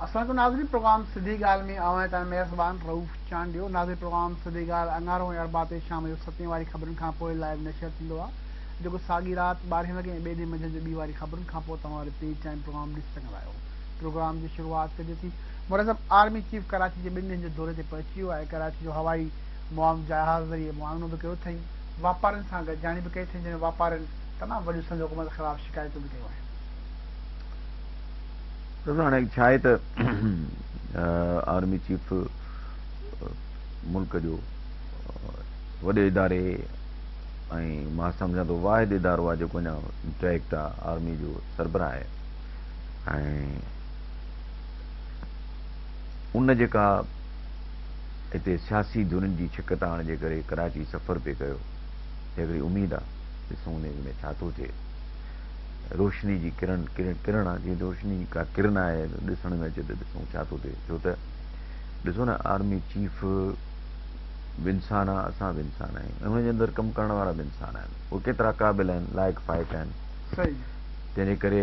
اسان جو ناظرين پروگرام سڌي ڳالهه ۾ اوهان تان مهربان رئوف چانڊيو ناظرين پروگرام سڌي ڳالهه اڱارو ۽ اربع تي شام جو ستين واري خبرن کان پوء لائيو نشر ٿيندو آهي جيڪو ساڳي رات ٻارهين وڳي ۽ ٻئي ڏينهن منجهند جو ٻي واري خبرن کان پوء توهان وري پري ٽائيم پروگرام ڏسي سگهندا آهيو پروگرام جي شروعات ڪجي ٿي مرزب آرمي چيف ڪراچي جي ٻن ڏينهن جي دوري تي پهچي ويو آهي ڪراچي جو هوائي معاون جهاز ذريعي معائنو به ڪيو اٿئي واپارين سان گڏجاڻي به ڪئي ٿي جنهن ۾ واپارين تمام وڏيون سنڌ حڪومت خلاف شڪايتون به ڪيون آهن. ڏسو هاڻي ڇا آهي ته آرمي چيف ملڪ جو وڏي اداري ۽ مان سمجهان ٿو واحد ادارو آهي جيڪو اڃا انٽيڪٽ آهي آرمي جو سربراهه آهي ۽ ان جيڪا اتي سياسي ڌرين جي ڇڪتاڻ جي ڪري ڪراچي سفر پئي ڪيو ته هڪڙي اميد آ ڏسون ان اميد ۾ ڇا ٿو ٿئي روشني جي ڪرڻ ڪرڻ آ جيئن روشني جي ڪا ڪرن آهي ڏسڻ ۾ اچي ته ڏسون ڇا ٿو ٿئي ڇو ته ڏسو نه آرمي چيف به انسان آ اسان به انسان آهيون ۽ ان جي اندر ڪم ڪرڻ وارا به انسان آهن اهي ڪيترا قابل آهن لائق فائق آهن تنهن جي ڪري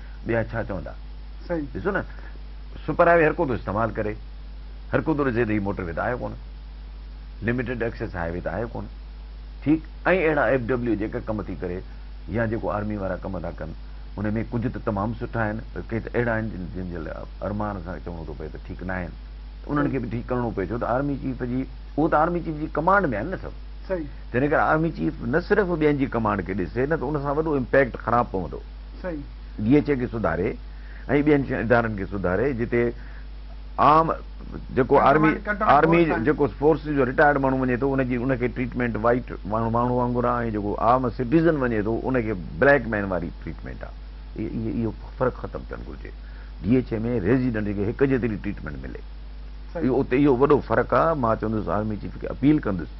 ٻيا ڇا چوندا؟ ڏسو نه سپر هاء وي هر ڪو ٿو استعمال ڪري، هر ڪو ٿو ڏسي ته هي موٽر وي ته آهي ڪونه، لميٽيڊ ايڪسيس هاء وي ته آهي ڪونه، ٺيڪ ائين اهڙا ايف ڊبليو جيڪا ڪم ٿي ڪري يا جيڪو آرمي وارا ڪم ٿا ڪن ان ۾ ڪجهه ته تمام سٺا آهن پر ڪي ته اهڙا آهن جن جن جي لاء ارمان سان چوڻو ٿو پئي ته ٺيڪ نه آهن انهن کي به ٺيڪ ڪرڻو پئي ڇو ته آرمي چيف جي اهو ته آرمي چيف جي ڪمانڊ ۾ آهن نه سڀ تنهن ڪري آرمي چيف نه صرف ٻين جي ڪمانڊ کي ڏسي نه ته ان سان وڏو امپيڪٽ خراب پوندو. ڊي ايڇ اي کي سڌاري ۽ ٻين ادارن کي سڌاري جتي عام جيڪو آرمي آرمي جيڪو فورسز جو رٽائرڊ ماڻهو وڃي ٿو ان جي ان کي ٽريٽمينٽ وائيٽ ماڻهو وانگر آهي ۽ جيڪو عام سٽيزن وڃي ٿو ان کي بليڪ مين واري ٽريٽمينٽ آهي اهو فرق ختم ٿيڻ گهرجي ڊي ايڇ اي ۾ ريزيڊنٽ کي هڪ جيتري ٽريٽمينٽ ملي اهو اتي اهو وڏو فرق آهي مان چوندس آرمي چيف کي اپيل ڪندس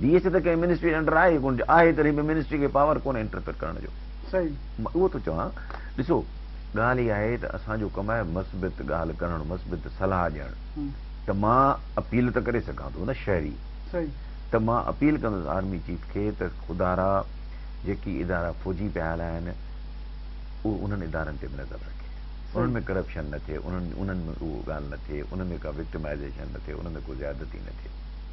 ڊي ايڇ ته ڪنهن منسٽري جي انڊر آهي ئي ڪونه آهي تڏهن به منسٽري کي پاور ڪونه انٽرفيئر ڪرڻ جو مان اهو ٿو چوان ڏسو ڳالهه اها آهي ته اسان جو ڪم آهي مثبت ڳالهه ڪرڻ مثبت صلاح ڏيڻ ته مان اپيل ته ڪري سگهان ٿو نه شهري ته مان اپيل ڪندس آرمي چيف کي ته خدارا جيڪي ادارا فوجي پيا هلائن اهو انهن ادارن تي به نظر رکي انهن ۾ ڪرپشن نه ٿئي انهن ۾ اهو ڳالهه نه ٿئي انهن ۾ ڪا وڪٽمائزيشن نه ٿئي انهن ۾ ڪو زيادتي نه ٿئي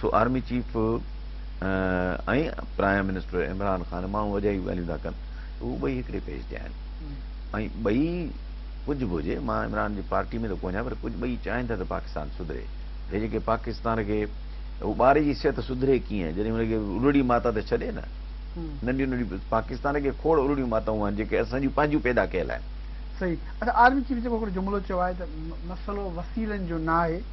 سو army chief ۽ prime minister Imran Khan ماڻهو اجايون ڳالهيون ٿا ڪن ته هو ٻئي هڪڙي پيج تي آهن ۽ ٻئي ڪجهه به هجي مان عمران جي پارٽي ۾ ته ڪونهيان پر ڪجهه ٻئي چاهين ٿا ته پاڪستان سڌري هي جيڪي پاڪستان کي هو ٻاري جي صحت سڌري ڪيئن جڏهن هن کي الڙي ماتا ته ڇڏي نه ننڍيون ننڍيون پاڪستان کي کوڙ الڙيون ماتائون آهن جيڪي اسان جون پنهنجون پيدا ڪيل آهن صحيح اچا آرمي چيف جيڪو هڪڙو جملو چيو آهي ته مسئلو وسيلن جو ناهي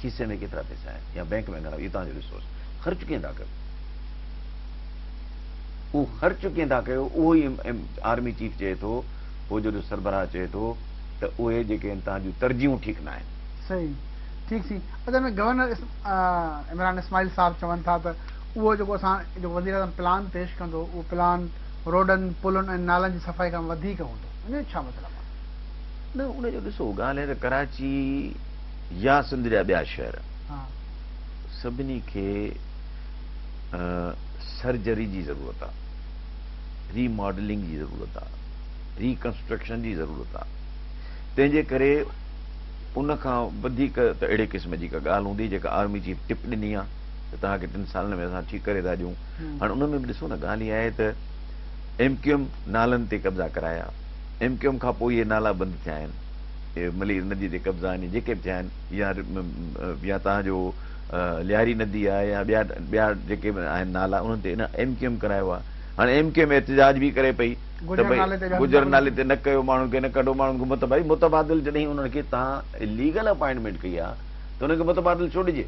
کيسي ۾ ڪيترا پئسا آهن يا بئنڪ ۾ گهڻا اهو توهان جو ريسورس خرچ ڪيئن ٿا ڪيو اهو خرچ ڪيئن ٿا ڪيو اهو ئي آرمي چيف چئي ٿو فوج جو سربراهه چئي ٿو ته اهي جيڪي آهن توهان جون ترجيحون ٺيڪ ناهن صحيح ٺيڪ سي اصل ۾ گورنر عمران اسماعيل صاحب چون ٿا ته اهو جيڪو اسان جيڪو وزير اعظم پلان پيش ڪندو اهو پلان روڊن پلن ۽ نالن جي صفائي کان وڌيڪ هوندو ان جو ڇا مطلب آهي نه ان جو ڏسو ڳالهه هي ته ڪراچي يا سنڌ جا ٻيا شهر سڀني کي سرجري جي ضرورت آ ري ماڊلنگ جي ضرورت آ ري ڪنسٽرڪشن جي ضرورت آ تنهنجي ڪري ان کان وڌيڪ ته اهڙي قسم جي ڪا ڳالهه هوندي جيڪا آرمي چيف ٽپ ڏني آ ته توهان کي ٽن سالن ۾ اسان ٺيڪ ڪري ٿا ڏيون هاڻي ان ۾ به ڏسو نه ڳالهه اها آهي ته ايم ڪيو ايم نالن تي قبضا ڪرايا ايم ڪيو ايم کان پوء اهي نالا بند ٿيا آهن ملير نديء تي قبضا يعني جيڪي به ٿيا آهن يا يا توهان جو لياري ندي آهي يا ٻيا ٻيا جيڪي به آهن نالا انهن تي ان ايم ڪيو ايم ڪرايو آهي هاڻي ايم ڪيو ايم احتجاج به ڪري پئي ته بھي گجر نالي تي نه ڪيو ماڻهن کي نه ڪڍو ماڻهن کي مت بھي متبادل جڏهن انهن کي توهان ليگل اپائنٽمينٽ ڪئي آهي ته انهن کي متبادل ڇو ڏجي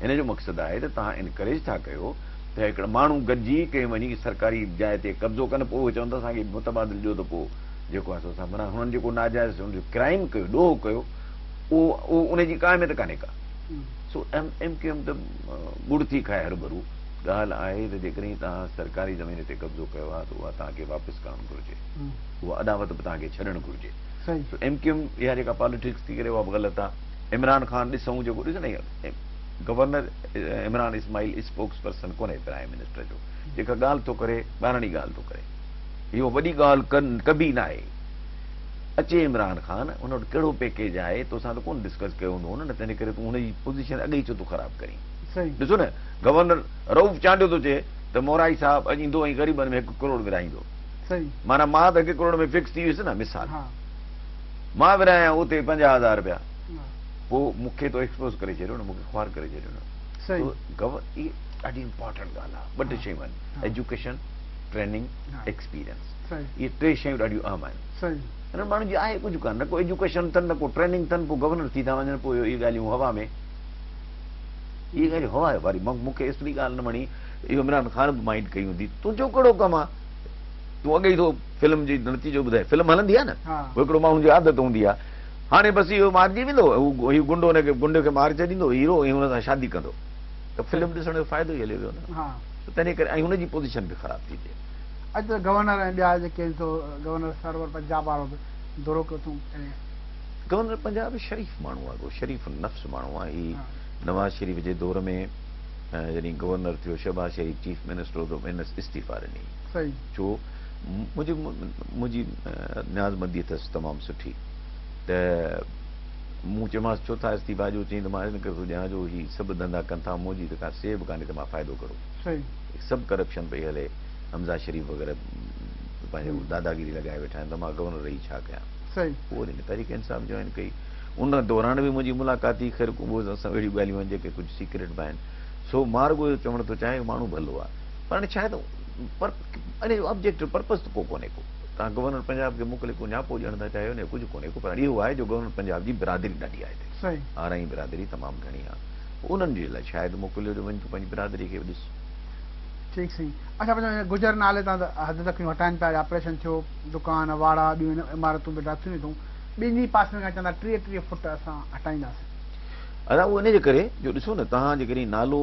هن جو مقصد آهي ته توهان انڪريج ٿا ڪيو ته هڪڙا ماڻهو گڏجي ڪنهن وڃي سرڪاري جاء تي قبضو ڪن پوء اهي چون ته اسان کي متبادل ڏيو ته پوء جيڪو اسان سان معنيٰ هنن جيڪو ناجائز ان جو ڪرائيم ڪيو ڏوهه ڪيو اهو ان جي ڪا اهميت ڪانهي ڪا سو ايم ايم ڪيو ايم ته ڳڙ ٿي کائي هرڀرو ڳالهه آهي ته جيڪڏهن توهان سرڪاري زمين تي قبضو ڪيو آهي ته اها توهان کي واپس ڪرڻ گهرجي اها اڏاوت به توهان کي ڇڏڻ گهرجي سو ايم ڪيو ايم اها جيڪا پاليٽڪس ٿي ڪري اها به غلط آهي عمران خان ڏسون جيڪو ڏس نه governor Imran Ismail spokesperson ڪونهي پرائم منسٽر جو جيڪا ڳالهه ٿو ڪري ٻاراڻي ڳالهه ٿو ڪري اهو وڏي ڳالهه ڪبي ناهي. اچي عمران خان، هن وٽ ڪهڙو پيڪيج آهي، توسان ته ڪونه ڊسڪس ڪيو هوندو هن نه تنهن ڪري تون هن جي پوزيشن اڳ ئي ڇو ٿو خراب ڪرين. ڏسو نه گورنر رئوف چانڊيو ٿو چئي ته مورائي صاحب اڄ ايندو ۽ غريبن ۾ هڪ ڪروڙ ورهائيندو. معنيٰ مان ته هڪ ڪروڙ ۾ فڪس ٿي ويس نه مثال مان ورهايان اتي پنجاهه هزار رپيا پوء مون کي تو ايڪسپوز ڪري ڇڏيو نه مون کي خوار ڪري ڇڏيو نه. اهي ڏاڍي امپارٽنٽ ڳالهه آهي ٻه ٽي شيون آهن ايجوڪيشن، ٽريننگ، ايڪسپيرينس اهي ٽي شيون ڏاڍيون اهم آهن. انهن ماڻهن جي آهي ڪجهه ڪانه نه ڪو ايجوڪيشن اٿن نه ڪو ٽريننگ اٿن پوء گورنر ٿي ٿا وڃن پوء اهي ڳالهيون هوا ۾ اهي ڳالهيون هوا ۾ واري مون کي ايتري ڳالهه نه وڻي اهو عمران خان به مائنڊ ڪئي هوندي تنهنجو ڪهڙو ڪم آهي تون اڳي ٿو فلم جي نتيجو ٻڌائي فلم هلندي آهي نه هڪڙو ماڻهو جي عادت هوندي آهي هاڻي بس اهو مارجي ويندو هو گنڊو هن کي گنڊي کي مار چئي ڏيندو هيرو ۽ هن سان شادي ڪندو ته فلم ڏسڻ جو فائدو ئي هليو ويو نه ته تنهن ڪري ۽ هن جي پوزيشن به خراب ٿي پئي. اڄ ته گورنر ۽ ٻيا جيڪي آهن سو گورنر سرور پنجاب وارو به دورو ڪيو اٿئون ڪڏهن. گورنر پنجاب شريف ماڻهو آهي ڪو شريف النفس ماڻهو آهي هي نواز شريف جي دور ۾ جڏهن گورنر ٿيو شهباز شريف چيف منسٽر هو ته هنس استعيفا ڏني ڇو منهنجي منهنجي نياز مندي اٿس تمام سٺي ته مون چيومانس ڇو ٿا استعيفا ڏيو؟ چيائين ته مان ان ڪري ٿو ڏيان جو هي سڀ ڌنڌا ڪن ٿا منهنجي ته ڪا سيهه به ڪانهي ته مان فائدو ڪهڙو؟ هي سڀ ڪرپشن پئي هلي حمزه شريف وغيره پنهنجي داداگيري لڳائي ويٺا آهن ته مان گورنر رهي ڇا ڪيان؟ پوء وري هن تحريڪ انصاف جوائن ڪئي ان دوران به منهنجي ملاقات ٿي خير ڪو به سان اهڙيون ڳالهيون آهن جيڪي ڪجهه سيڪريٽ به آهن سو مان رڳو اهو چوڻ ٿو چاهيان ماڻهو ڀلو آهي پر هاڻي ڇا آهي ته پر ان جو آبجيڪٽو پرپز ته ڪو ڪونهي ڪو تان گورنر پنجاب کي موڪلي ڪو نياپو ڏيڻ ٿا چاهيو نه ڪجهه ڪونهي پر اهو آهي جو گورنر پنجاب جي برادري ڏاڍي آهي هتي آرائين برادري تمام گهڻي آهي پوء انهن جي لاء شايد موڪليو جو وڃ تون پنهنجي برادري کي به ڏس. ٺيڪ سائين اچا پڇا هي گجر نالي تان ته حد تڪريون هٽائين پيا اڄ آپريشن ٿيو دڪان واڙا ٻيون عمارتون به ڊاٿيون ئي اٿئون ٻين ئي پاسن کان چون ٿا ٽيهه ٽيهه فوٽ اسان هٽائينداسين. ادا اهو انهي جي ڪري جو ڏسو نه توهان جي ڪري نالو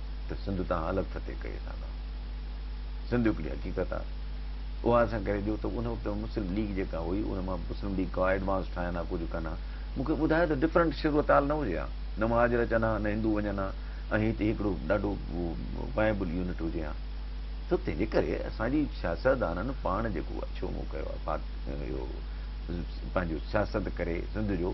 ته سنڌ تان الڳ فتح ڪئي اسان کان سنڌ هڪڙي حقيقت آ اها اسان ڪري ڏيو ته ان وقت مسلم ليگ جيڪا هئي ان مان مسلم ليگ ڪا ايڊوانس ٺاهن ها ڪجهه ڪن ها مون کي ٻڌايو ته ڊفرنٽ شروتال نه هجي ها نه مهاجر اچن ها نه هندو وڃن ها ۽ هتي هڪڙو ڏاڍو وائبل يونٽ هجي ها سو تنهنجي ڪري اسان جي سياستدانن پاڻ جيڪو اڇو مون ڪيو آهي پنهنجو سياست ڪري سنڌ جو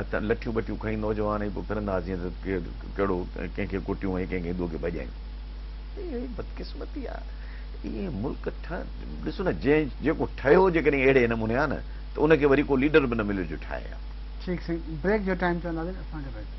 اتان لٺيون ٻٺيون کڻي نوجوان ائين پيو ڦرندا ها جيئن ته ڪير ڪهڙو ڪنهن کي ڪٽيون ۽ ڪنهن کي هندوء کي ڀڄايون. اهڙي بدقسمتي آ اهي ملڪ ٺهن ڏسو نه جنهن جيڪو ٺهيو جيڪڏهن اهڙي نموني آ نه ته ان کي وري ڪو ليڊر به نه مليو جو ٺاهي ها. ٺيڪ سائين بريڪ جو ٽائيم چونداسين اسان کي رهجي.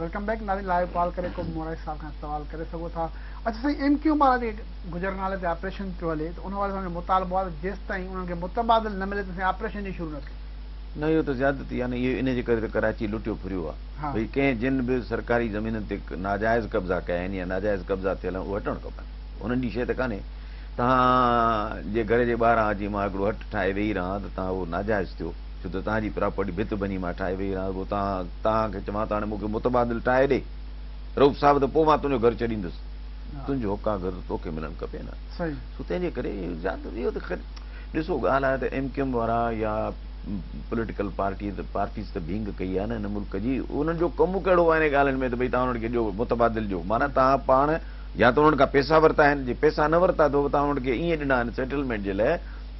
ويلڪم بيڪ ناري لائيو ڪال ڪري ڪو به مورائي صاحب کان سوال ڪري سگهو ٿا اچ سائين ايم ڪيو مارا جي گجر نالي تي آپريشن پيو هلي ته ان واري سان جو مطالبو آهي ته جيستائين انهن کي متبادل نه ملي تيستائين آپريشن ئي شروع نه ٿئي نه اهو ته زيادتي آهي نه اهو ان جي ڪري ته ڪراچي لٽيو ڦريو آهي ڀئي ڪنهن جن به سرڪاري زمينن تي ناجائز قبضا ڪيا آهن يا ناجائز قبضا ٿيل آهن اهي هٽڻ کپن انهن جي شيء ته ڪانهي توهان جي گهر جي ٻاهران اچي مان هڪڙو هٽ ٺاهي ويهي رهان ته توهان اهو ناجائز ٿيو ڇو ته توهان جي پراپرٽي ڀت ڀڃي مان ٺاهي ويئي رهان رڳو توهان کي چوان ته هاڻي مون کي متبادل ٺاهي ڏي رئوف صاحب ته پوء مان تنهنجو گهر ڇڏيندس تنهنجو حقان گهر ته توکي ملڻ کپي نه سو تنهنجي ڪري اهو ته خير ڏسو ڳالهه آهي ته ايم ڪيو ايم وارا يا پوليٽيڪل پارٽي ته پارٽيز ته ڀينگ ڪئي آهي نه هن ملڪ جي انهن جو ڪم ڪهڙو آهي انهن ڳالهين ۾ ته ڀئي توهان انهن کي ڏيو متبادل ڏيو معنيٰ توهان پاڻ يا ته انهن کان پيسا ورتا آهن جي پيسا نه ورتا اٿو توهان انهن کي ائين ڏنا آهن سيٽلمينٽ جي لاء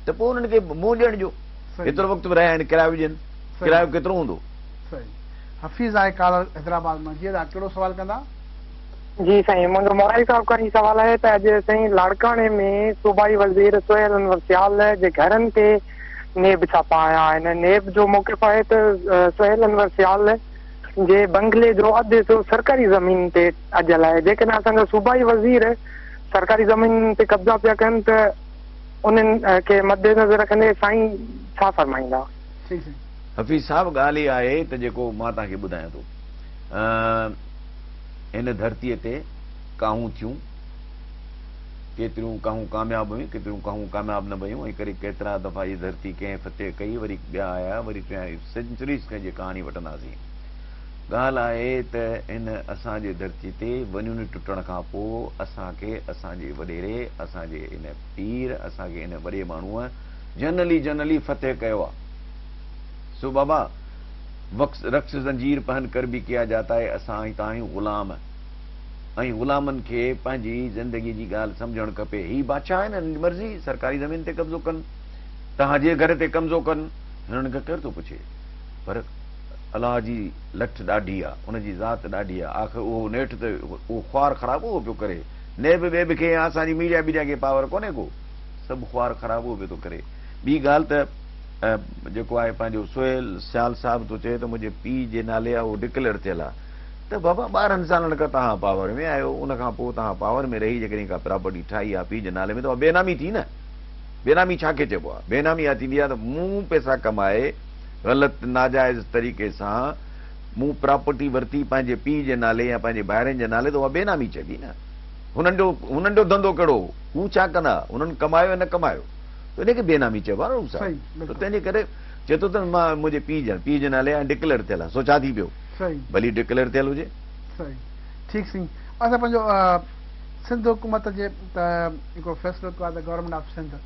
ته پوء انهن کي منهن ڏيڻ ڏيو هيترو وقت به رهيا آهن ڪرايو به ڏين ڪرايو ڪيترو هوندو. صحيح حفيظ آهي ڪالر حيدرآباد مان جي ادا ڪهڙو سوال ڪندا. جي سائين منهنجو مورائي صاحب کان هي سوال آهي ته اڄ سائين لاڙڪاڻي ۾ صوبائي وزير سهيل انور سيال جي گهرن تي نيب ڇاپا آيا آهن نيب جو موقف آهي ته سهيل انور سيال جي بنگلي جو اڌ حصو سرڪاري زمين تي اجل آهي جيڪڏهن اسان جا صوبائي وزير سرڪاري زمين تي قبضا پيا ڪن ته انهن کي مدنظر رکندي سائين ڇا فرمائيندا؟ صحيح سائين. حفيظ صاحب ڳالهه اها آهي ته جيڪو مان توهان کي ٻڌايان ٿو هن ڌرتيء تي ڪاهون ٿيون ڪيتريون ڪاهون ڪامياب هيون ڪيتريون ڪاهون ڪامياب نه ويون ۽ ڪري ڪيترا دفعا هي ڌرتي ڪنهن فتح ڪئي وري ٻيا آيا وري ٽيان سينچريز کان جي ڪهاڻي وٺنداسين ڳالهه آهي ته هن اسان جي ڌرتي تي ونيون ٽٽڻ کان پوء اسان کي اسان جي وڏيري، اسان جي هن پير، اسان کي هن وڏي ماڻهوء جنرلي جنرلي فتح ڪيو آ. سو بابا! وڪس رڪس زنجير پهن ڪر ڀي ڪيا جاتا هي اسان هتان آهيون غلام ۽ غلامن کي پنهنجي زندگي جي ڳالهه سمجهڻ کپي. هي بادشاهه آهن هنن جي مرضي سرڪاري زمين تي قبضو ڪن، توهان جي گهر تي قمضو ڪن، هنن کان ڪير ٿو پڇي. پر الله جي لٺ ڏاڍي آ، ان جي ذات ڏاڍي آ، آخر اهو نيٺ ته اهو خوار خراب اهو پيو ڪري، نيب ٻي به ڪنهن آ، اسان جي ميڊيا بيڊيا کي پاور ڪونهي ڪو، سڀ خوار خراب اهو پيو ٿو ڪري. ٻي ڳالهه ته جيڪو آهي پنهنجو سهيل سيال صاحب ٿو چئي ته منهنجي پيء جي نالي آ اهو ڊڪليئر ٿيل آ ته بابا ٻارهن سالن کان توهان پاور ۾ آهيو ان کان پوء توهان پاور ۾ رهي جيڪڏهن ڪا پراپرٽي ٺاهي آ پيء جي نالي ۾ ته اها بينامي ٿي نه، بينامي ڇا کي چئبو آ، بينامي اها ٿيندي آ ته مون پيسا ڪمائي غلط ناجائز طريقي سان مون پراپرٽي ورتي پنهنجي پيء جي نالي يا پنهنجي ڀائرن جي نالي ته اها بي نامي چئبي نه. هنن جو هنن جو ڌنڌو ڪهڙو هو؟ هو ڇا ڪندا هئا؟ هنن ڪمايو يا نه ڪمايو ته ان کي بي نامي چئبو آهي نه رئوف صاحب. ته تنهنجي ڪري چئي ٿو ته مان منهنجي پيء جي پيء جي نالي آهي ڊڪليئر ٿيل آهي سو ڇا ٿي پيو ڀلي ڊڪليئر ٿيل هجي. صحيح ٺيڪ سائين اسان پنهنجو سنڌ حڪومت جي هڪ فيصلو ڪيو آهي ته گورنمينٽ آف سنڌ.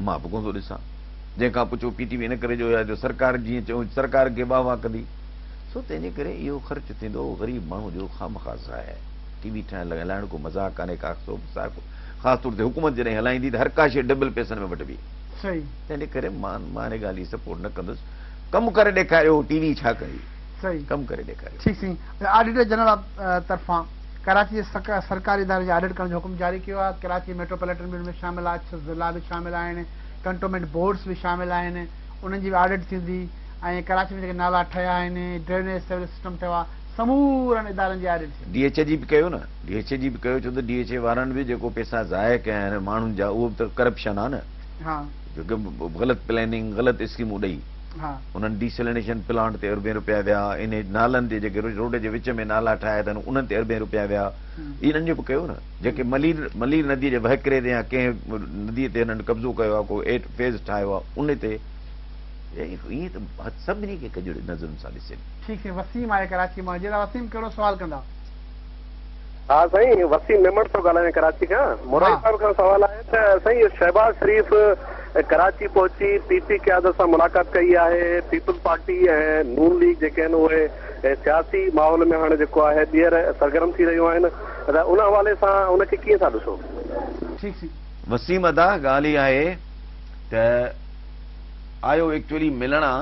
مان به ڪونه ٿو ڏسان. جنهن کان پڇو پي ٽي وي ان ڪري جو يا جو سرڪار جيئن چئون سرڪار کي واهه واهه ڪندي سو تنهن جي ڪري اهو خرچ ٿيندو اهو غريب ماڻهو جو خامخواه ضايع ٽي وي ٺاهڻ لڳ هلائڻ ڪو مذاق ڪانهي ڪا سو صاحب خاص طور تي حڪومت جڏهن هلائيندي ته هر ڪا شيء ڊبل پيسن ۾ وٺبي تنهن جي ڪري مان مان ان ڳالهه جي سپورٽ نه ڪندس ڪم ڪري ڏيکاريو ٽي وي ڇا ڪندي ڪم ڪري ڏيکاريو ٺيڪ سائين آڊيٽر جنرل طرفان ڪراچي جي سرڪاري ادارن جي آڊٽ ڪرڻ جو حڪم جاري ڪيو آهي، ڪراچي ميٽروپوليٽن بل ۾ شامل آهي، ڇهه ضلعا به شامل آهن، ڪنٽونمينٽ بورڊز به شامل آهن، انهن جي به آڊٽ ٿيندي ۽ ڪراچي ۾ جيڪي نالا ٺهيا آهن، ڊرينيج سيوريج سسٽم ٺهيو آهي، سمورن ادارن جي آڊٽ ٿيندي. ڊي ايڇ جي به ڪيو نه، ڊي ايڇ جي به ڪيو ڇو ته ڊي ايڇ وارن به جيڪو پيسا ضايع ڪيا آهن ماڻهن جا اهو به ته ڪرپشن آهي نه، غلط پليننگ غلط اسڪيمون ڏئي. انهن ڊي سلينيشن پلانٽ تي اربين رپيا ويا، ان نالن تي جيڪي روڊ جي وچ ۾ نالا ٺاهيا اٿن انهن تي اربين رپيا ويا، انهن جو به ڪيو نه، جيڪي ملير ملير نديء جي وهڪري تي يا ڪنهن نديء تي هنن قبضو ڪيو آهي، ڪو ايٽ فيز ٺاهيو آهي ان تي. ائين ته هٿ سڀني کي ڪجڙي نظرن سان ڏسين. ٺيڪ سائين وسيم آهي ڪراچي مان جيئرا وسيم ڪهڙو سوال ڪندا. ها سائين وسيم ميمڻ ٿو ڳالهايان ڪراچي کان مورائي صاحب کان سوال آهي ته سائين اهو شهباز شريف ڪراچي پهچي پي پي قيادت سان ملاقات ڪئي آهي پيپلز پارٽي ۽ نون ليگ جيڪي آهن اهي سياسي ماحول ۾ هاڻي جيڪو آهي ٻيهر سرگرم ٿي رهيون آهن ته ان حوالي سان ان کي ڪيئن ٿا ڏسو. وسيم ادا ڳالهه اها آهي ته آيو ايڪچولي ملڻ آ.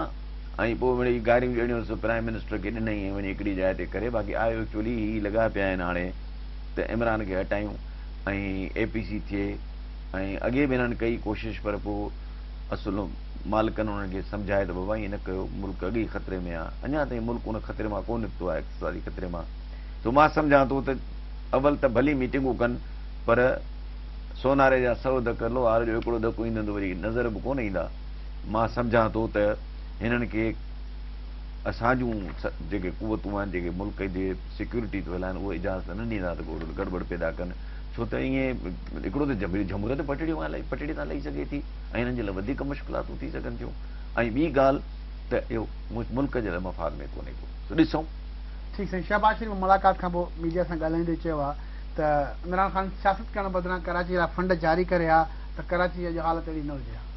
۽ پوء مڙيئي گاريون جهڙيون سو پرائم منسٽر کي ڏنئي ۽ وڃي هڪڙي جاء تي ڪري باقي آء ايڪچوئلي هي لڳا پيا آهن هاڻي ته عمران کي هٽايون ۽ اي پي سي ٿئي ۽ اڳي به هنن ڪئي ڪوشش پر پوء اصل مالڪن هنن کي سمجهائي ته بابا ائين نه ڪيو ملڪ اڳي ئي خطري ۾ آهي اڃا تائين ملڪ ان خطري مان ڪو نڪتو آهي اقتصادي خطري مان سو مان سمجهان ٿو ته اول ته ڀلي ميٽنگون ڪن پر سوناري جا سؤ ڌڪ لوهار جو هڪڙو ڌڪ ايندن ته وري نظر به ڪونه ايندا مان سمجهان ٿو ته هنن کي اسان جون جيڪي قوتون آهن جيڪي ملڪ جي سيڪيورٽي ٿو هلائن اهي اجازت نه ڏيندا ته ڪو گڙٻڙ پيدا ڪن ڇو ته ائين هڪڙو ته جبري جهمري ته پٽڙي تان لهي سگهي ٿي ۽ هنن جي لاء وڌيڪ مشڪلاتون ٿي سگهن ٿيون ۽ ٻي ڳالهه ته اهو ملڪ جي لاء مفاد ۾ ڪونهي ڪو سو ڏسون ٺيڪ سائين شهباز شريف ملاقات کان پوء ميڊيا سان ڳالهائيندي چيو آهي ته عمران خان سياست ڪرڻ بدران ڪراچي لاء فنڊ جاري ڪري ها ته ڪراچي جي اڄ حالت اهڙي نه هجي ها.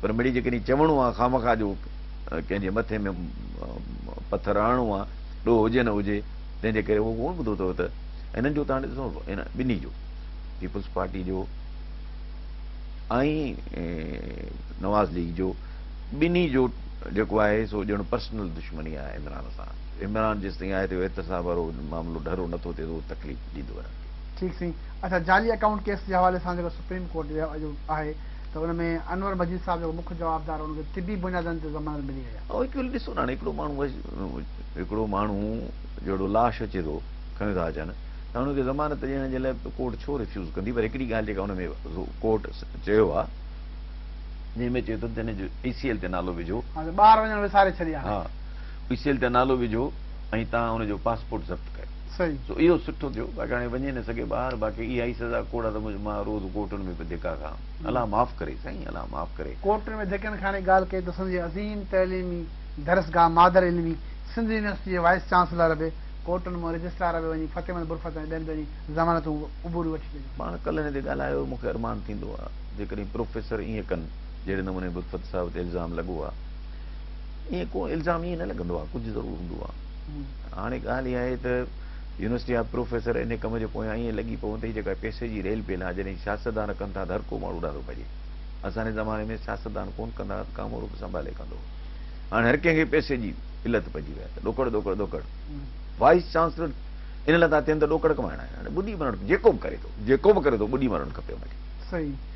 پر مڙئي جيڪڏهن چوڻو آ خامخا جو ڪنهن جي مٿي ۾ پٿر هڻڻو آ، ڏوهه هجي نه هجي، تنهن جي ڪري اهو ڪونه ٻڌو اٿئو ته هنن جو ته هاڻي ڏسو هن ٻنهي جو پيپلز پارٽي جو ۽ نواز ليگ جو ٻنهي جو جيڪو آهي سو ڄڻ پرسنل دشمني آهي عمران سان. عمران جيستائين آهي ته اهو احتساب وارو معاملو ڍرو نه ٿو ٿئي ته اهو تڪليف ڏيندو انهن کي. ٺيڪ سائين اچا جعلي اڪائونٽ ڪيس جي حوالي سان جيڪو سپريم ڪورٽ جو آهي ته ان ۾ انور مجيد صاحب جيڪو مک جوابدار هو ان کي طبي بنيادن تي ضمانت ملي وئي آهي. اهو هڪ ڏسو نه هاڻي هڪڙو ماڻهو هڪڙو ماڻهو جهڙو لاش اچي ٿو کنيو ٿا اچن ته هاڻي ان کي ضمانت ڏيڻ جي لاء ڪورٽ ڇو ريفيوز ڪندي پر هڪڙي ڳالهه جيڪا ان ۾ ڪورٽ چيو آهي جنهن ۾ چيو اٿن ته هن جو اي سي ايل تي نالو وجهو ٻاهر وڃڻ وساري ڇڏي آهي ها اي سي ايل تي نالو وجهو ۽ تان ان جو پاسپورٽ ضبط ڪيو. سو اهو سٺو ٿيو باقي هاڻي وڃي نه سگهي ٻاهر باقي اها ئي سزا ڪوڙا ته منهنجي ماء روز ڪورٽن ۾ به ڌڪا کان الله معاف ڪري سائين الله معاف ڪري. ڪورٽن ۾ ڌڪن کاڻي ڳالهه ڪئي ته سنڌ جي عظيم تعليمي درسگاهه مادر علمي سنڌ يونيورسٽي جي وائيس چانسلر به ڪورٽن مان رجسٽرار به وڃي فتح محمد برفت ۽ ٻين پنهنجي ضمانتون عبوريون وٺي ڏنيون. پاڻ ڪلهه هن تي ڳالهايو مون کي ارمان ٿيندو آ جيڪڏهن پروفيسر ايئن ڪن جهڙي نموني برفت صاحب تي الزام لڳو آ ايئن ڪو الزام ايئن نه لڳندو آ ڪجهه ضرور هوندو آ. هاڻي ڳالهه اها آهي ته يونيورسٽي جا پروفيسر انهي ڪم جي پويان ائين لڳي پون ته هي جيڪا پئسي جي ريل پيل آهي جڏهن سياستدان ڪن ٿا ته هر ڪو ماڻهو ڏاڍو ڀڄي اسان جي زماني ۾ سياستدان ڪون ڪندا هئا ته ڪامورو به سنڀالي ڪندو هو هاڻي هر ڪنهن کي پئسي جي علت پئجي وئي آهي ته ڏوڪڙ ڏوڪڙ ڏوڪڙ وائيس چانسلر ان لاء ٿا ٿين ته ڏوڪڙ ڪمائڻا آهن هاڻي ٻڏي مرڻ جيڪو به ڪري ٿو جيڪو به ڪري ٿو ٻڏي مرڻ کپي ان کي صحيح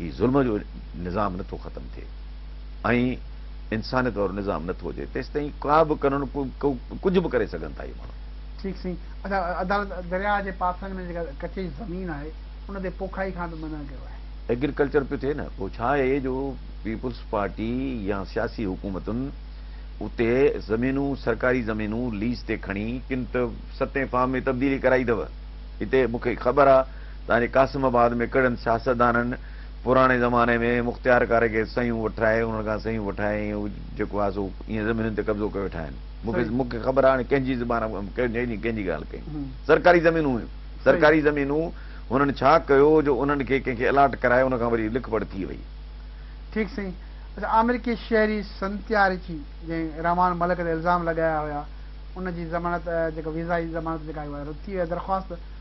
هي ظلم جو نظام نه ٿو ختم ٿئي ۽ انسانيت وارو نظام نه ٿو اچي تيستائين ڪا به قانون ڪجهه به ڪري سگهن ٿا اهي ماڻهو. ٺيڪ سائين ادا عدالت درياهه جي پاسن ۾ جيڪا ڪچي زمين آهي ان تي پوکائي کان به منع ڪيو آهي. ايگريڪلچر پيو ٿئي نه پوء ڇا اهي جو پيپلز پارٽي يا سياسي حڪومتن اتي زمينون سرڪاري زمينون ليز تي کڻي ڪن ته ستين فارم ۾ تبديلي ڪرائي اٿو هتي مون کي خبر آ تاڻي قاسم آباد ۾ ڪهڙن سياستدانن پراڻي زماني ۾ مختيارڪاري کي سهيون وٺرائي انهن کان سهيون وٺائي ۽ هو جيڪو آهي سو ايئن زمينن تي قبضو ڪيو ويٺا آهن مون کي خبر آهي هاڻي ڪنهن جي زبان ڪنهن جي ڳالهه ڪئي سرڪاري زمينون هيون سرڪاري زمينون هنن ڇا ڪيو جو انهن کي ڪنهن کي الاٽ ڪرائي ان کان وري لک پڙ ٿي وئي. ٺيڪ سائين اچا آمريڪي شهري سنتيارچي جنهن رحمان ملڪ تي الزام لڳايا هيا ان جي ضمانت جيڪا ويزا جي ضمانت جيڪا آهي اها رد ٿي وئي آهي درخواست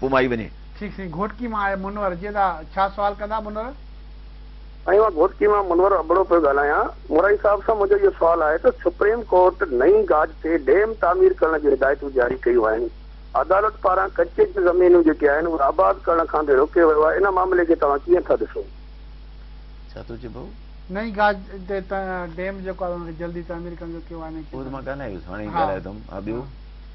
پوء مان ئي وڃي. ٺيڪ سائين گهوٽڪي مان آء منور جيدا ڇا سوال ڪندا منور. سائين مان گهوٽڪي مان منور ابڙو پيو ڳالهايان مورائي صاحب سان منهنجو اهو سوال آهي ته سپريم ڪورٽ نئين گاج تي ڊيم تعمير ڪرڻ جون هدايتون جاري ڪيون آهن عدالت پاران ڪچي جون زمينون جيڪي آهن اهي آباد ڪرڻ کان به روڪيو ويو آهي ان معاملي کي توهان ڪيئن ٿا ڏسو. ڇا ٿو چئي بهو. نئين گاج تي ڊيم جيڪو آهي ان کي جلدي تعمير ڪرڻ جو ڪيو آهي ان کي. اهو ته مان ڳالهايوس هاڻي ئي ڳالهايو اٿم ها ٻيو.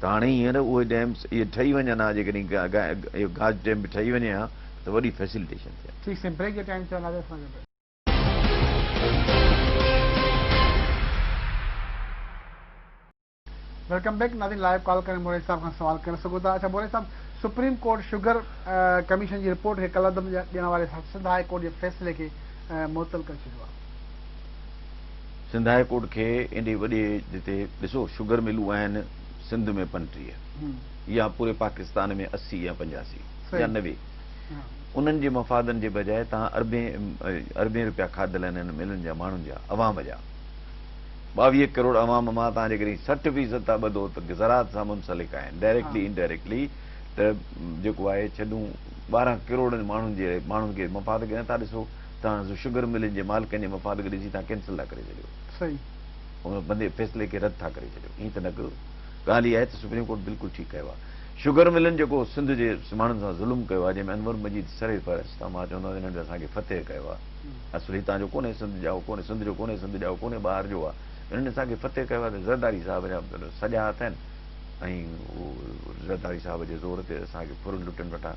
ته هاڻي هينئر اهي ڊيم اهي ٺهي وڃن ها جيڪڏهن اهو گاج ڊيم به ٺهي وڃي ها ته وڏي فيسلٽيشن ٿئي ها. ويلڪم بيڪ ناظرين لائيو ڪال ڪري موريء صاحب کان سوال ڪري سگهو ٿا اڇا موريء صاحب سپريم ڪورٽ شگر ڪميشن جي رپورٽ کي ڪالعدم ڏيڻ واري سنڌ هاء ڪورٽ جي فيصلي کي معطل ڪري ڇڏيو آهي سنڌ هاء ڪورٽ کي ايڏي وڏي جتي ڏسو شگر ملون آهن سنڌ ۾ پنٽيهه يا پوري پاڪستان ۾ اسي يا پنجاسي يا نوي انهن جي مفادن جي بجاء تهان اربين اربين روپيا کاڌل آهن انهن ملن جا ماڻهن جا عوام جا ٻاويهه ڪروڙ عوام مان تهان جيڪڏهن سٺ فيصد ٿا ٻڌو ته زراعت سان منسلڪ آهن ڊائريڪٽلي انڊائريڪٽلي ته جيڪو آهي ڇڏون ٻارهن ڪروڙن ماڻهن جي ماڻهن کي مفاد کي نٿا ڏسو توهان سو شگر ملن جي مالڪن جي مفاد کي ڏسي توهان ڪينسل ٿا ڪري ڇڏيو ان بندي فيصلي کي رد ٿا ڪري ڇڏيو ائين ته نه ڪيو ڳالهه اها آهي ته سپريم ڪورٽ بلڪل ٺيڪ ڪيو آهي شگر ملن جيڪو سنڌ جي ماڻهن سان ظلم ڪيو آهي جنهن ۾ انور مجيد سري فهرست آهي مان چوندو آهيان هنن اسان کي فتح ڪيو آهي اصل هتان جو ڪونهي سنڌ جا ڪونهي سنڌ جو ڪونهي سنڌ جا ڪونهي ٻاهر جو آهي هنن اسان کي فتح ڪيو آهي ته زرداري صاحب جا سڄا هٿ آهن ۽ زرداري صاحب جي زور تي اسان کي ڦرن لٽن وٽان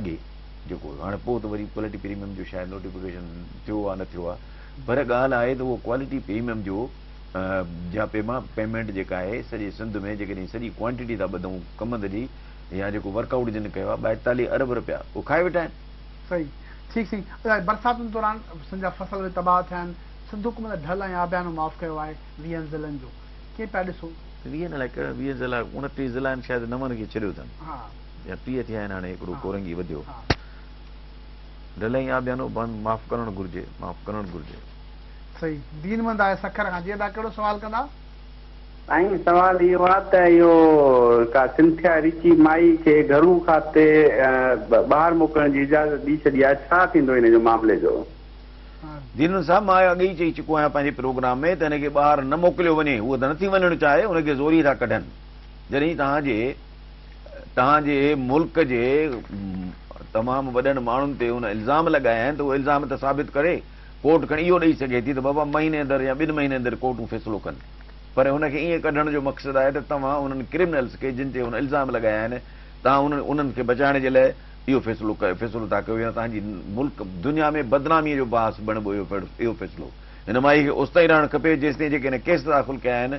اڳي جيڪو هاڻي پوء ته وري ڪوالٽي پريميم جو شايد نوٽيفڪيشن ٿيو آهي نه ٿيو آهي پر ڳالهه آهي ته اهو ڪوالٽي پريميم جو جا پيما پيمينٽ جيڪا آهي سڄي سنڌ ۾ جيڪڏهن سڄي ڪوانٽيٽي ٿا ٻڌون ڪمند جي يا جيڪو ورڪ آئوٽ جن ڪيو آهي ٻائيتاليهه ارب رپيا اهو کائي ويٺا آهن. صحيح ٺيڪ سائين الاهي برساتن دوران سن جا فصل به تباهه ٿيا آهن سنڌ حڪومت ڍل ۽ آبيانو معاف ڪيو آهي ويهن ضلعن جو ڪئين پيا ڏسو. ويهن الاهي ڪهڙا ويهه ضلعا اڻٽيهه ضلعن شايد نون کي ڇڏيو اٿن. يا ٽيهه ٿيا آهن هاڻي هڪڙو ڪورنگي وڌيو ڍلئين آبيانو بند معاف ڪرڻ گهرجي معاف ڪرڻ گهرجي. صحيح دين مند آهي سکر کان جي ادا ڪهڙو سوال ڪندا. سائين سوال اهو آ ته اهو ڪا سنٿيا ريچي مائي کي گهرو کاتي ٻاهر موڪلڻ جي اجازت ڏي ڇڏي آ ڇا ٿيندو هن جو معاملي جو. دين مند صاحب مان اڳ ئي چئي چڪو آهيان پنهنجي پروگرام ۾ ته هن کي ٻاهر نه موڪليو وڃي هوء ته نٿي وڃڻ چاهي هن کي زوري ٿا ڪڍن جڏهن توهان جي توهان جي ملڪ جي تمام وڏن ماڻهن تي ان الزام لڳايا آهن ته اهو الزام ته ثابت ڪري، ڪورٽ کڻي اهو ڏئي سگهي ٿي ته بابا مهيني اندر يا ٻن مهيني اندر ڪورٽون فيصلو ڪن پر ان کي ائين ڪڍڻ جو مقصد آهي ته توهان انهن ڪرمنلز کي جن تي هن الزام لڳايا آهن توهان انهن کي بچائڻ جي لاء اهو فيصلو فيصلو ٿا ڪيو يا توهان جي ملڪ دنيا ۾ بدنامي جو باعث بڻبو اهو فيصلو هن مائي کي اوستائين رهڻ کپي جيستائين جيڪي هن ڪيس داخل ڪيا آهن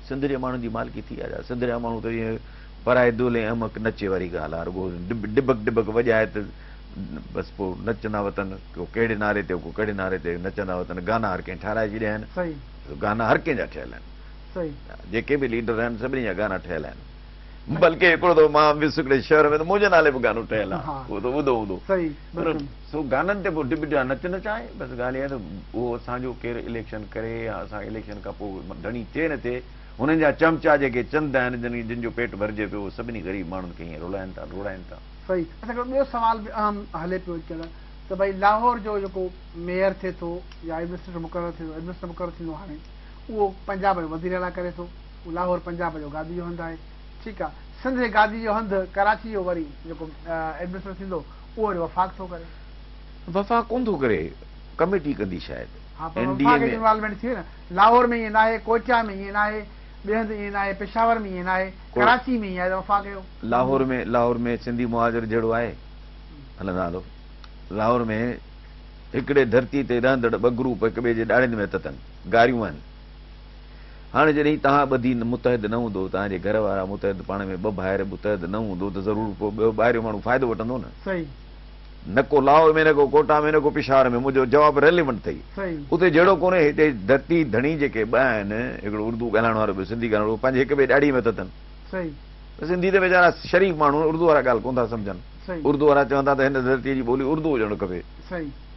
سنڌ جي ماڻهن جي مالڪي ٿي آجا سنڌ جا ماڻهو ته جيئن پرائي دول ۽ احمق نچي واري ڳالهه آ رڳو ڊٻڪ ڊٻڪ وڄائي ته بس پو نچندا وتن ڪو ڪهڙي نعري تي ڪو ڪهڙي نعري تي نچندا وتن گانا هر ڪنهن ٺهرائي ڇڏيا آهن صحيح گانا هر ڪنهن جا ٺهيل آهن صحيح جيڪي به ليڊر آهن سڀني جا گانا ٺهيل آهن بلڪه هڪڙو ته مان ويس هڪڙي شهر ۾ ته منهنجي نالي به گانو ٺهيل آ اهو ته ٻڌو هوندو صحيح بلڪل سو گانن تي پوء ڊپ ڊيا نچ نچ آهي بس ڳالهه اها ته اهو اسان جو ڪير اليڪشن ڪري يا اسان اليڪشن کان پوء ڌڻي ٿئي نه ٿئي هنن جا چمچا جيڪي چند آهن جن جن جو پيٽ ڀرجي پيو اهي سڀني غريب ماڻهن کي هيئن رلائن ٿا روڙائن ٿا. صحيح اسان کي ٻيو سوال به اهم هلي پيو اچڻ ته ڀئي لاهور جو جيڪو ميئر ٿئي ٿو يا ايڊمنسٽريٽر مقرر ٿئي ٿو ايڊمنسٽريٽر مقرر ٿيندو هاڻي اهو پنجاب جو وزير اعليٰ ڪري ٿو لاهور پنجاب جو گادي جو هنڌ آهي ٺيڪ آ سنڌ جي گادي جو هنڌ ڪراچي جو وري جيڪو ايڊمنسٽريٽر ٿيندو اهو وري وفاق ٿو ڪري. وفاق ڪون ٿو ڪري ڪميٽي ڪندي شايد ها پر اين ڊي وفاق اي جي ۾. انوالومينٽ ٿئي نه لاهور ۾ ائين ناهي ڪوئٽه ۾ ائين ناهي ٻئي هنڌ ائين ناهي پشاور ۾ ائين ناهي ڪو ڪراچي ۾ ائين آهي ته وفاق جو لاهور معمول. ۾ لاهور ۾ سنڌي مهاجر جهڙو آهي هلن ها هلو لاهور ۾ هڪڙي ڌرتي تي رهندڙ ٻه گروپ هڪ ٻئي جي ڏاڙهين ۾ تتن گاريون آهن. هاڻي جڏهن توهان ٻڌي متحد نه هوندو، توهان جي گهر وارا متحد پاڻ ۾ ٻه ڀائر متحد نه هوندو ته ضرور ڪو ٻيو ٻاهريون ماڻهو فائدو وٺندو نه. نه ڪو لاهور ۾ نه ڪو ڪوئٽا ۾ نه ڪو پشاور ۾ منهنجو جواب ريليونٽ اٿئي. اتي جهيڙو ڪونهي هتي ڌرتي ڌڻي جيڪي ٻه آهن هڪڙو اردو ڳالهائڻ وارو ٻيو سنڌي ڳالهائڻ وارو پنهنجي هڪ ٻئي ڏاڙهي مٿ اٿن ته سنڌي ته ويچارا شريف ماڻهو آهن اردو وارا ڳالهه ڪونه ٿا سمجهن اردو وارا چون ٿا ته هن ڌرتي جي ٻولي اردو هجڻ کپي.